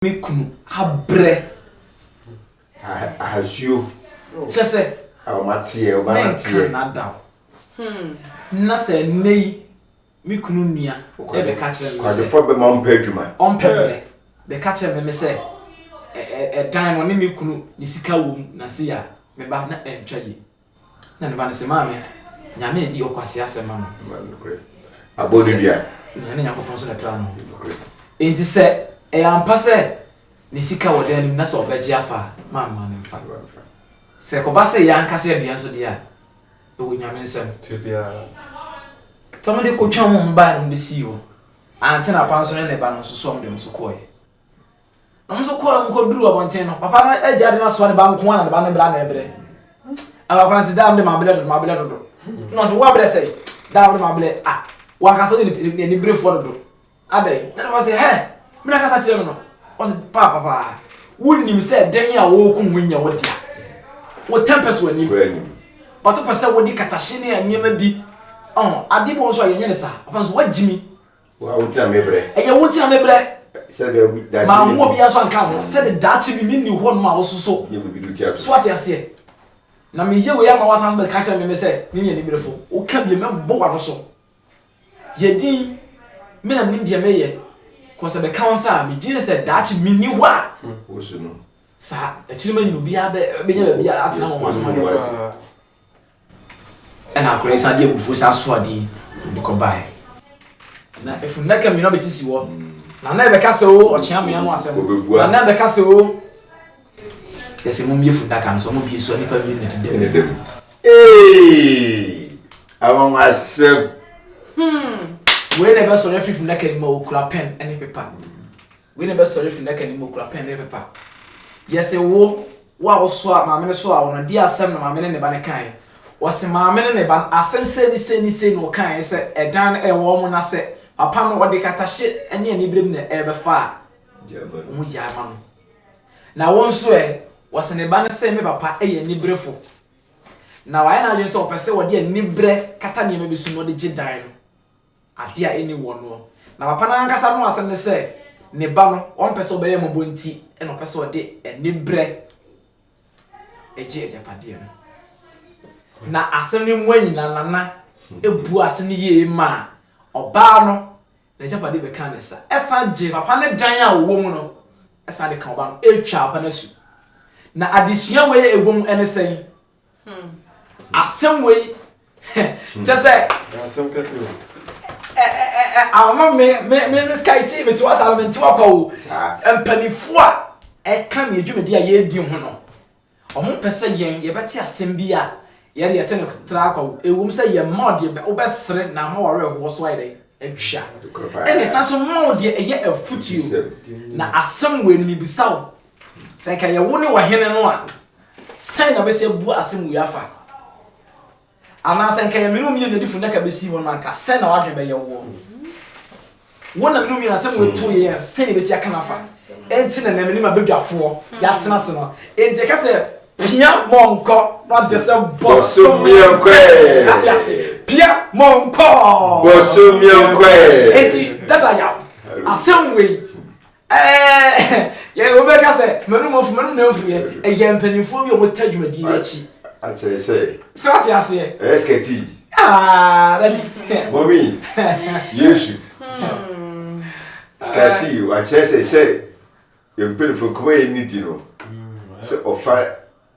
me kunu abrɛ Ahasuo kyɛ sɛ menka n'ada o Na sɛ nnɛ yi me kunu nua bɛka kyerɛ me sɛ ɔmpɛ brɛ Bɛka kyerɛ me sɛ ɛdan no ɔne me kunu ne sika wɔ mu na sei a Me ba na ɛntwa yie Na ne ba no se, Maame, Nyame adi ɔkwasea sɛm ma me. Sɛ nea ne Nyankopɔn nso na ɛpraa no ho. Enti sɛ ɛyɛ ampa sɛ ne sika wɔ dan no mu na sɛ ɔbɛgye afa a, mamma no mfa. Sɛ ɛkɔba sɛ yɛn ankasa yɛdua nso deɛ a, ɛwɔ Nyame nsam. Nti wɔn de kɔtwaa wɔn baeɛ no wɔn besii hɔ. Ankyɛ na papa nso ne ne ba no nso sɔɔ wɔn deɛ wɔn nso kɔeɛ. Wɔn nso kɔɔ mu kɔduruu abɔnten no, papa no agya de no asoa ne ba nko ara na ne ba no brɛ na ɛbrɛ. Abakora no sɛ, daa mede mabrɛ dodo, mabrɛ dodo. Na ɔsɛ, woabrɛ sɛe? Daa mede mabrɛ, ah, wankasa ɔyɛ aniberefoɔ dodo. Adɛn? Na ne ba sɛ, hɛ, me na kasa kyerɛ me no. Ɔsɛ, paa, papa, wonim sɛ dɛn a wɔreko ho nyɛ wo dea. Wo tɛmpɛ so anim. But wopɛ sɛ wode katahye ne nneɛma bi, ɔho, ade bɔ nso a yɛnyɛ ne saa. Papa no sɛ, woagyimi. Wo a wugyina me brɛ. Ɛyɛ wo gyina me brɛ. Sɛdeɛ obi daakye nni hɔ. Manwo obiara nso anka ho. Sɛdeɛ daakye bi menni hɔ nom a wososo. Nyɛ biribi de wo ti ato so. So wate aseɛ? Na meyɛ wei ama woasan nso bɛka akyerɛ me me sɛ ne ne animerefo. Woka bio, mɛbɔ w'ano so. Yɛ dinn, me na menim deɛ mereyɛ. Kɔ sɛ bɛka wo nsa a megye sɛ daakye menni hɔ a. Wosu no. Saa. Akyiri manyini obiara bɛnya baabi atena wɔ mo asomadeɛ mu. Ɛnna akoa yi san de abufuo san soo adeɛ yi na ɔde kɔbaeɛ. Na efunnaka mmienu abɛsisi hɔ, na na ɛbɛka sɛ o ɔkyea mmea no asɛm, na na ɛbɛka sɛ o yɛ sɛ mommie funnaka no, sɛ wɔbie so a nnipa mmienu na ɛdeda mu. Eeii! Anwanwasɛm! Hmm! Wei na ɛbɛsɔre afiri funnaka no mu a ɔkura pɛn ne pepa. Wei na ɛbɛsɔre afiri nnaka no mu, ɔkura pɛn ne pepa. Yɛse wo, wo a wosoaa, maame no soaa wo no, deɛ asɛm na maame ne ne ba no kaeɛ? Wɔse maame ne ne ba no, asɛm sei ne sei ne sei na wɔkaeɛ sɛ ɛdan no ɛwɔ wɔn na sɛ papa no ɔde katahye ne aniberem na ɛrebɛfa a, wɔgyae ma no. Na wo nso ɛ? Wɔse ne ba no se me papa yɛ aniberefo, na wayɛ n'adwene sɛ ɔpɛ sɛ ɔde aniberɛ kata nneɛma bi so na ɔde gye dan no. ade a ɛnni wɔn noɔ. Na papa no ankasa no asɛm ne sɛ, ne ba no, ɔmpɛ sɛ ɔbɛyɛ mmɔbɔ nti na ɔpɛ sɛ ɔde aniberɛ gye agyapadeɛ no. Na asɛm no mu anyina, Nana buaa asɛm no yie maa ɔbaa no, n'agyapadeɛ bɛkaa ne nsa, ɛsan gyee papa no dan a ɔwɔ mu no, ɛsan de kaa ɔbaa no, ɛtwaa papa no asu. Na adesua wei a ɛwɔ mu ne sɛn? Asɛm wei kyɛ sɛ asɛm kɛse o ama me me me me sky ti me ti wa saa me nti wa kwa o mpanimfoɔ a ɛka me dwumadi a yɛredi ho no wɔn mpɛ sɛ yɛn yɛbɛte asɛm bi a yɛde yɛte no tra akwa o ewom sɛ yɛn mma ɔdeɛ wobɛsere na ama wɔwerɛ hoɔ so ayɛ dɛ atwa ɛna san so mma ɔdeɛ ɛyɛ afutuo na asɛm wei no mebisa wo Sɛ anka ɛyɛ wo ne ɔhene no a, sɛn na bɛsi abu asɛm wei afa? Anaa sɛ anka ɛyɛ me ne wo mmienu na adifo nnaka bɛsii hɔ no a, anka sɛn na w'adwene bɛyɛ woɔ? Wo na me ne wo mmienu asɛm wei to yɛn a, sɛn na yɛbɛsi aka no afa? Enti na na me ne m'abadwafoɔ yɛatena ase no, enti ɛka sɛ, Pia mɔ nkɔ na gye sɛ bɔsommeɛ nkɔ ɛ. Ate ase? Pia mɔ nkɔ. Bɔsommeɛ nkɔ ɛ. Enti, Dada Yaw, asɛm wei, Ɛɛ, yɛ, wobɛka sɛ, M'anom afu, m'anom na amfu yɛ. Ɛyɛ mpanimfoɔ bi a wɔtaa dwumadie yi akyi. Akyerɛ sɛ. Sɛ wote aseɛ. Ɛyɛ skɛti. Aa, dabi. Mɔmi, Yesu. Skɛti, akyerɛ sɛ, sɛ yɛn mpanimfoɔ, nkɔmmɔ a yɛn ne di no, sɛ ɔfa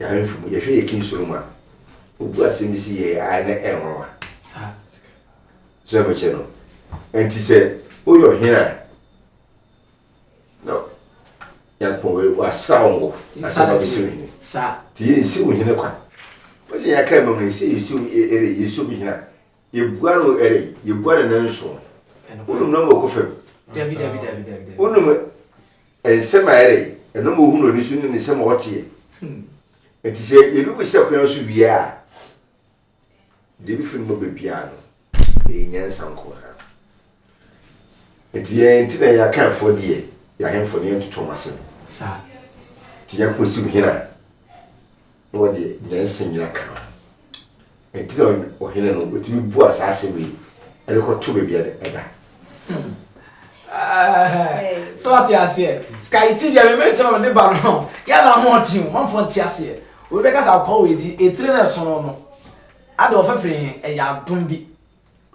Nyame mfumu. Yɛhwɛ yɛ King Solomon a, obu asɛm bi se yɛɛ ae na ɛnwanwa. Saa. Sɛ mekyɛ no. Enti sɛ woyɛ ɔhene a, na Nyankopɔn wasra wo ngo ansa na wabɛsi wo hene. Saa. Nti yɛnsi wo hene kwa. Wose yɛaka amam no, yɛse yɛsi wo, yɛreyɛ, yɛsi obi hene a, Yɛbua no ɛnɛ yi, yɛbua no nnanson. Wonum nɔma ɔkɔ fam. Wonum nsɛm a ɛyɛ dɛ, nɔma ɔhu no ani so ne nsɛm a ɔteɛ. Nti sɛ yɛbi bu sɛ kwan so wie a, deɛ ɛbi firi ne mu ba biara no, ɛyɛ nyansa nko ara. Nti yɛn nti na yɛn Akanfoɔ deɛ, yɛn ahemfo no, yɛntoto wɔn asɛm. Nti Nyankopɔn siw hene a, na wɔde nyansa nyina ka ho. Ɛnti na ɔhene no ɔtumi bua saa asɛm yi de kɔto baabi a ɛda. sɛ wate aseɛ sika yi ti deɛ meme nsɛm a mede ba no yɛ na ho ɔtwe mu mamfoɔ nte aseɛ obi bɛka sɛ akɔkɔ wɔ ɛti ɛtire no ɛsono no ade ɔfɛfiri he ɛyɛ adom bi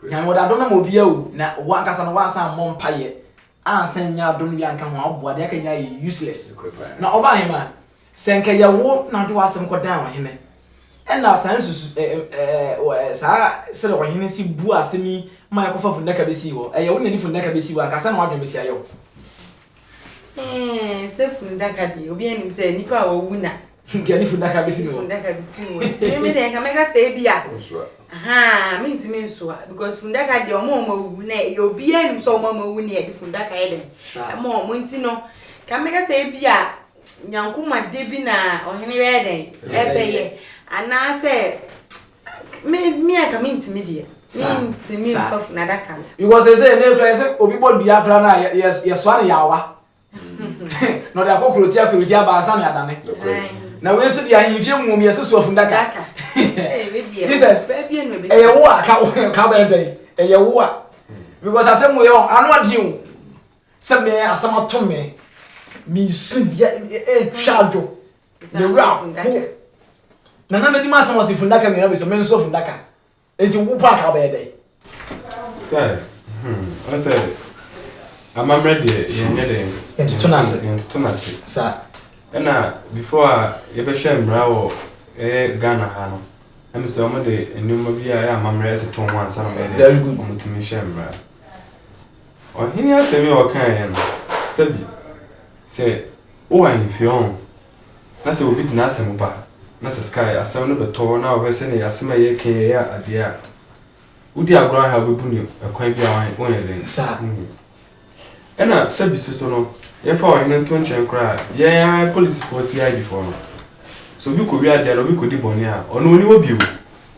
Nyan wɔde adom no ma obiara o na wo ankasa no woansan ammɔ mpaeɛ ansa annya adom no bi anka ho a woboa deɛ aka nyinaa yɛ useless na ɔbaa hemaa sɛ nka yɛ wo na wode w'asɛm kɔ dan ɔhene ɛna saa nsusu eh, eh, eh, saa sɛdeɛ ɔhene si bu asɛm yi ma yɛkɔfa funnaka bɛsii hɔ ɛyɛ wo na de funnaka bɛsii hɔ anka sɛ na wadwen bɛsi ayɛ wo Eeii sɛ fundaka deɛ obiara nim sɛ nipa a wawu na. Nka ne fundaka besi ne hɔ. Fundaka besi ne hɔ. Ti mi deɛ nka mɛka sɛ ebi a. Ɔnsoa. Ahaa mi ntumi nsoa because fundaka deɛ ɔmo a ɔmo awu na yɛ obiara nim sɛ ɔmo a ɔmo awu na yɛde fundaka yɛ dɛn. Ɛma ɔmo nti no nka mɛka sɛ ebi a nyankomade bi na ɔhene bɛyɛ dɛn ɛbɛyɛ anaasɛ Me me anka me ntumi deɛ. Me ntumi nfa funu adaka no. Because they say ne kura yɛsɛ obi bɔ dua kura na yɛ yɛ yɛsoa ne yaawa na ɔde akɔ kuroti akurusi aba ansa na adane na wei nso deɛ ahemfie mu yɛsɛ soa funu daka jesus ɛyɛ wo a ka ka bɛn dɛn ɛyɛ wo a because asɛm wo yɛ wɔn ano adeɛ o sɛ mɛ asɛm ato mɛ mɛ su deɛ ɛtwa adwo. Ne wura ho. Na na medi m'asɛm ɔse fundaka mmienu abɛsi me nso fundaka nti wo paaka wobɛyɛ dɛn. Sky hmm ɔsɛ amammerɛ deɛ yɛn nyɛ dɛn. Yɛn toto n'ase. Yɛn toto n'ase. Sa. Ɛna before a yɛbɛhyɛ mmara wɔ ɛyɛ Ghana ha no ɛmi sɛ wɔn de nneɛma bi a ɛyɛ amammerɛ ɛtoto ho ansa na wɔn yɛ dɛ wɔn tumi hyɛ mmara. Ɔhene asɛm yi a ɔkaeɛ no sɛbi. Sɛ wowɔ ahemfie ɔn na sɛ obi de n'asɛm ba na sɛ sky asɛm no bɛtɔ hɔ na ɔhwɛ sɛnea asɛm a ɛyɛ kee ɛyɛ adeɛ a wodi agorɔ ahe a wobɛbu no ɛkwan bi a wonyɛ dɛn saa wohu ɛna sɛbi soso no yɛmfa ɔhene nto nkyɛn koraa yɛn ara yɛ polisifoɔ CID foɔ no sɛ obi kɔwi adeɛ na obi kɔdi bɔne a ɔno ɔni hɔ bio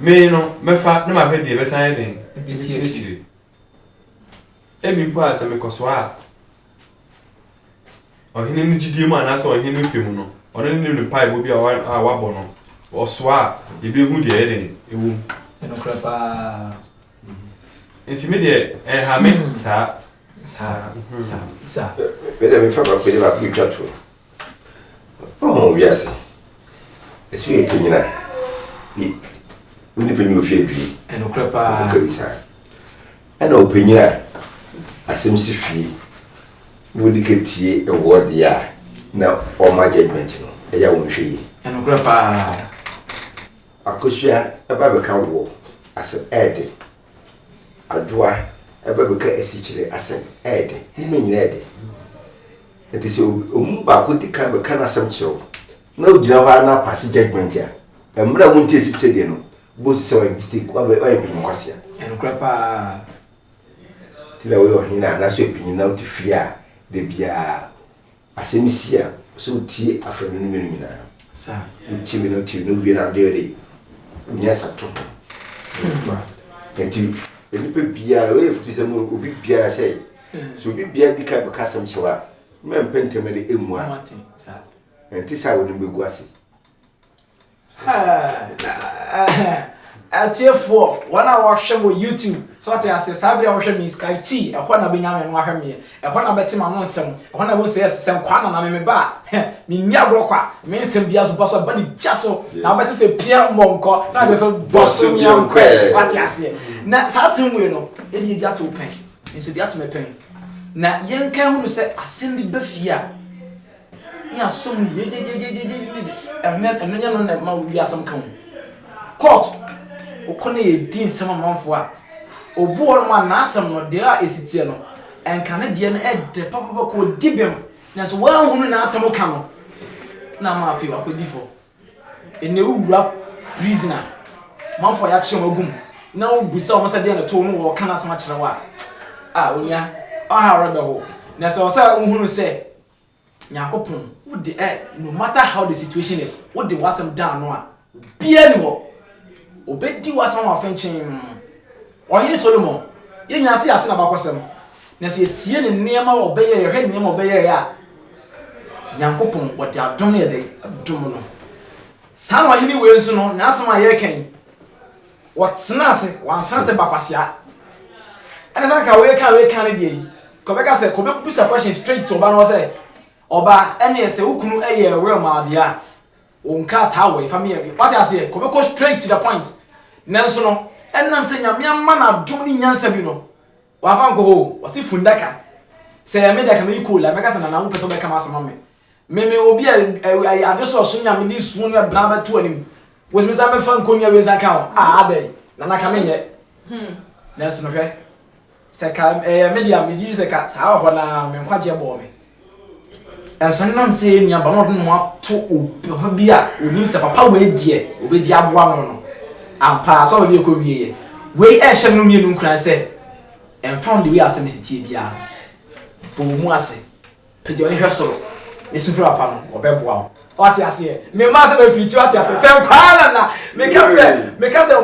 Me no, mɛfa na mahwɛ deɛ ɛbɛsan ayɛ dɛn asi akyire. Ebi mpo a sɛ mekɔsoa a, ɔhene no gyidie mu anaasɛ ɔhene no pɛ mu no, ɔno ne no mpaebɔ bi a wabɔ no, ɔsoa a, yɛbɛhu deɛ ɛyɛ dɛn ɛwɔ mu. Ɛnokorɛ paa. Nti me deɛ ɛnha me saa. Saa, saa, saa. Me deɛ mefa baako bi ne baako bi twa to. Ɔhɔn wiase, esu yɛ panyin a ne ne nyimpa nyi ofi eduonu. Nokorɛ paa. Ɔkɔka bi saa. Ɛna ɔpanyin a asɛm si fie na ɔdi ka tie ɛwoɔ deɛ a na ɔma judgement no, ɛyɛ a wɔnhwɛ yie. Nokorɛ paa. Akosua ɛba bɛka woɔ asɛm ɛɛde. Adwoa ba bi ka asikyire asɛm ɛyɛ dɛ, mo mu nyinaa yɛ dɛ. Nti sɛ wɔn mu baako di kan bɛka n'asɛm kyerɛ wo na wogyina hɔ ara na paase judgement a, mmerɛ a wonte asikyire deɛ no, wobɛhu sɛ wayɛ mistake, wayɛ panyin kwasea. Ɛyɛ nokorɛ pa ara. Nti na woyɛ ɔhene anaasɛ ɔpanyin na wote fie a, da biara. Asɛm bi si a, sɛ wotie afanu no mmienu nyinaa. Sɛ wotie mmienu no, tie no wie na wode ɔde wo nyansa to ho. Nokware. Enti nnipa biara, wei yɛ afotusɛm o, obi biara sɛ, sɛ obi biara di kan bɛka asɛm kyerɛ wo a, mma mpɛ ntɛm na de mmua. Ɛnte saa a w'anim bɛgu ase. Atiefoɔ, wɔn a wɔhwɛ wɔ YouTube, so ɔte aseɛ, saa bere a wɔhwɛ me Skype T, ɛhɔ na bɛnya me no ahwɛ meɛ, ɛhɔ na bɛte ma no nsɛm, ɛhɔ na bɛhu sɛ yes, sɛ nkwaa na na me meba a, menni agorɔ kwa, me nsɛm biara so bɔso ɛba ne gya so, na wobɛte sɛ pia mmɔ nkɔ, na agye so bɔso mia nkɔ ɛ, wate aseɛ. Na saa asɛm wei no, ebi ebi ato pɛn, nso ebi ato me pɛn, na yɛnka hunu sɛ asɛm bi ba fie a, Ne aso mu yie gyegyeegyegye ne ɛho ɛno nyɛ no na ɛma obi asɛm ka ho. Court kɔ na yɛdi nsɛm amanfoɔ a, obu hɔ nom a n'asɛm no deɛ a ɛsi teɛ no nka ne deɛ no ɛdɛ papapa kɔ ɔdi bem nanso wanhunu n'asɛm ka no na ama afei wakɔdi fɔ. Ɛnɛ wo wura prison a amanfoɔ a yɛakye wɔn agu mu na wo bisa wɔn sɛ deɛ no to wo na wɔka n'asɛm akyerɛ wo a, ah onua ɔhaw rɛbɛho nanso ɛwɔ sɛ wohunu sɛ Nyankopɔn wo de ɛ no matter how the situation is wo de w'asɛm da ano a obiara ni hɔ obedi w'asɛm ama fenkyem Ɔhene Solomon yenya se yɛate n'abakɔsɛm nanso yɛtie ne nneɛma a ɔbɛyɛ yɛhwɛ nneɛma a ɔbɛyɛɛ a Nyankopɔn wɔde adom no yɛ dɛn dom no saa na ɔhene wei nso no n'asɛm a yɛreka yi Wɔtena ase, wɔantena ase ba kwasea. Ɛna sɛ anka wei kan wei kan ne deɛ yi, kɔbɛka sɛ kɔbɛbusa question straight ɔba no hɔ sɛ, ɔba ɛneɛ sɛ wo kunu ɛyɛ real ma deɛ a, wo nkrataa wɔ yi fa meyɛ deɛ. Wate aseɛ? Kɔbɛkɔ straight to the point. Nanso no, ɛnam sɛ Nyame ama no adom ne nyansa bi no, W'anfa ankɔ hɔ o, ɔse fundaka, sɛ ɛyɛ me de anka meyi coal a mɛka sɛ Nana wo pɛ sɛ wobɛka m'asɛm ama me, me meyɛ obi a ɛɛ ade so ɔso nyame de suo nua bena bɛto anim, wotumi san bɛfa nkonnua wei nsa ka ho a adɛn, Nana ka menyɛ, nanso no hwɛ, sɛ ka ɛyɛ me de a megye di sɛ ka saa wɔ hɔ no ara me nkwagyeɛ bɔɔ me. Nso ɛnam sɛ yɛn nuabaa no a ɔde ne ho ato obi ho bi a onim sɛ papa wei deɛ obedi aboa no no, ampa ara asɔre no yɛ kowieɛ. Wei rehyɛ mo mmienu nkuran sɛ, ɛmfa ho deɛ wei asɛm si teɛ biara no, bɔ wo mu ase, pagya w'ani hwɛ soro, na su frɛ papa no, ɔbɛboa wo. Wate aseɛ? Me mma sɛ me preach wate aseɛ sɛ paa na na me ka sɛ me ka sɛ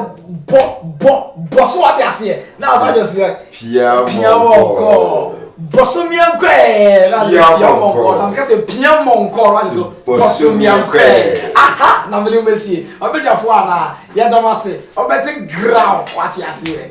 bɔ bɔ bɔ so wate aseɛ na ɔsan jɔ sɛ pia pia mɔnkɔ bɔ so mia nkɔ ɛɛ na me pia mɔnkɔ na me ka sɛ pia mɔnkɔ wate so bɔ so mia nkɔ ɛɛ aha na me de mo esie ɔbɛdwafo a na yɛ dɔm ase ɔbɛte ground wate aseɛ.